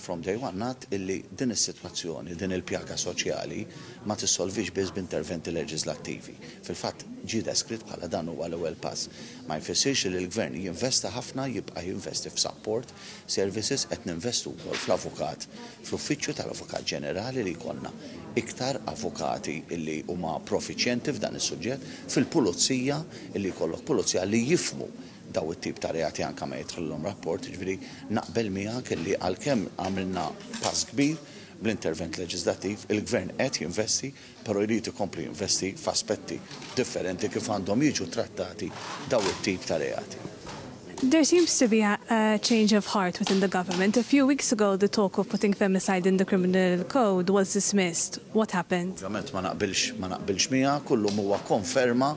from day one nat illi din is-sitwazzjoni, din il-pjaga soċjali ma tissolvix biss b'interventi leġislattivi. Fil-fatt ġi deskritt bħala dan huwa l-ewwel pass. Ma jfissirx li l-gvern jinvesta ħafna jibqa' jinvesti f'sapport Services qed ninvestu wkoll fl-avukat, fl-uffiċċju tal-Avukat Ġenerali li jkollna iktar avukati li huma profiċjenti f'dan is-suġġett, fil-pulizija li jkollok pulizja li jifhmu dawn it-tip ta' reati anke ma jidħlilhom rapport, jiġifieri naqbel miegħek li għalkemm għamilna pass kbir bl-intervent leġiżlattiv, il-Gvern qed jinvesti, però jrid ikompli jinvesti f'aspetti differenti kif għandhom jiġu trattati dawn it-tip ta' reati. There seems to be a change of heart within the government. A few weeks ago the talk of putting femicide in the criminal code was dismissed. What happened? Ovvjament ma naqbilx ma naqbilx miegħek u llum huwa konferma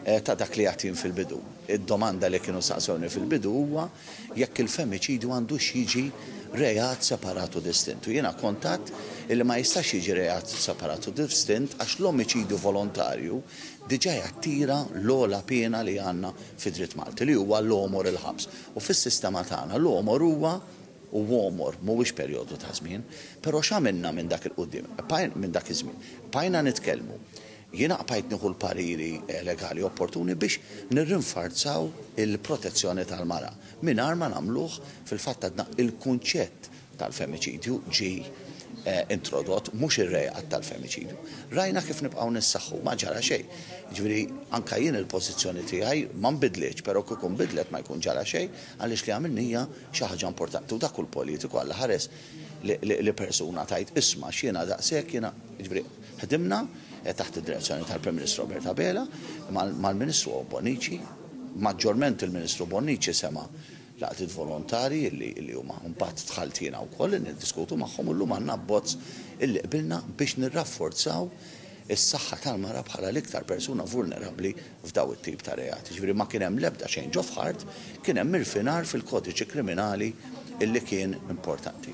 ta' dak li għedt jien fil-bidu. Id-domanda li kienu saqsewni fil-bidu huwa, jekk il-femiċidju għandux jiġi reat separat u distint. U jiena kont għadt illi ma jistax jiġi reat separat u distint għax l-omiċidju volontarju diġà jattira l-ogħla piena li għandna fid-dritt Malti, li huwa l-għomor il-ħabs. U fis-sistema tagħna l-għomor huwa u għomor, mhuwiex perjodu ta' żmien. Però x'għamilna minn dak il-quddiem, minn dak iż-żmien? Bqajna nitkellmu. Jiena qbajt nieħu l-pariri legali opportuni biex nirrinfarzaw il-protezzjoni tal-mara, mingħajr ma nagħmluh fil-fatt għadna. Il-kunċett tal-femiċidju ġie introdott, mhux ir-reat tal-femiċidju. Rajna kif nibqgħu nissaħħu, ma ġara xejn. Jiġifieri, anke jien il-pożizzjoni tiegħi ma nbidlitx, però kieku nbidlet ma jkun ġara xejn, għaliex li għamilni hija xi ħaġa importanti. U dak hu l-politiku, Alla ħares li persuna tgħid, isma' x'jiena daqshekk, jiena, jiġifieri, Ħdimna, taħt id-direzzjoni tal-Prim Ministru Robert Abela, mal-Ministru Bonnici, maġġorment il-Ministru Bonnici sema' l-għaqdiet volontarji li huma mbagħad dħalt jiena wkoll niddiskutu magħhom u llum għandna abbozz illi qbilna biex nirrafforzaw is-saħħa tal-mara bħala l-iktar persuna vulnerabbli f'daw it-tip ta' reati. Ġifieri ma kien hemm l-ebda change of heart, kien hemm irfinar fil-kodiċi kriminali illi kien importanti.